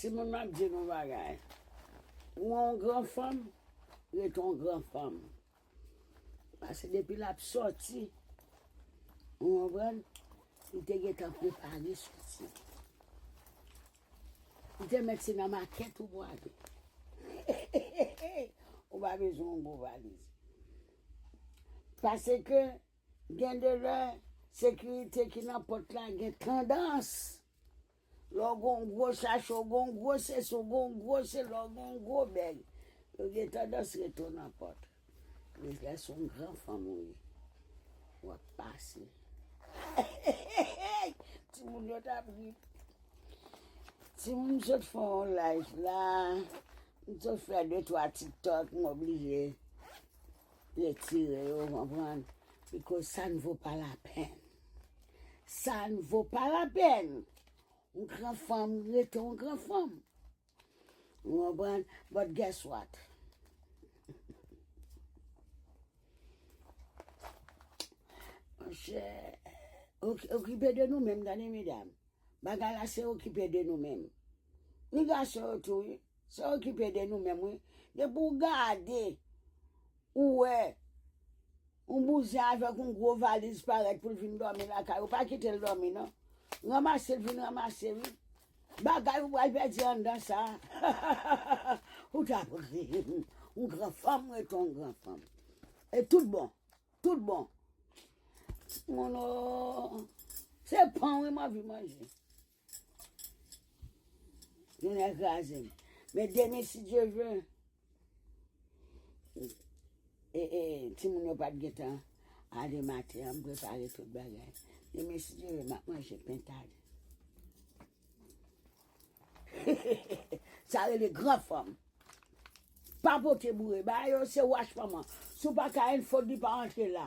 Timoun map di nou bagay ou on gran fanm ret on gran fanm pase depi lap soti ou konprann li te gentan prepare soti li te mèt se nan makèt ou pwale ou pa bezwen on gwo valiz pase ke Gen de lè, sekirite ki nan pòt la gen tandans, lè w gen yon gwo sachè, w gen yon gwo sesi, w gen yon gwo sela, w gen yon gwo bèg, yo gen tandans rete w nan pòt. Men lè se yon gran fanm ou ye, w ap pase. Eyy! Timoun yo t ap ri. Timoun m sot fè yon live la, m sot fè de twa tiktok, m oblije. Retire yo, konprann? Bikoz sa n vo pa lapenn. Sa n vo pa lapenn. Yon gran fanm rete yon gran fanm. Ou konprann? But guess what? Monchè, okipe de nou menm tande medam. Bagay la se okipe de nou menm. Ni gason yo tou wi. Sa okipe de nou menm wi. Depi w gade, ou wè yon bouzen avèk yon gwo valiz parèt pou l vin dòmi lakay ou, pa kite l dòmi non. Ranmase l vin ranmase wi. Bagay ou pral pèdi anndan sa a, ou t ap ri. Yon gran fanm rete yon gran fanm. E tout bon. Tout bon. Moun o! Se pan wi m anvi manje. Yon lè kraze m. Men demen si Dye vle, e, e, timoun yo pa t gen tan ale maten an, m prepare tout bagay. Demen si Dye vle m ap manje pentad. Sa rele gran fanm. Pa pote boure. Bagay yo se wach manman. Si w pa ka enfo di pa antre la.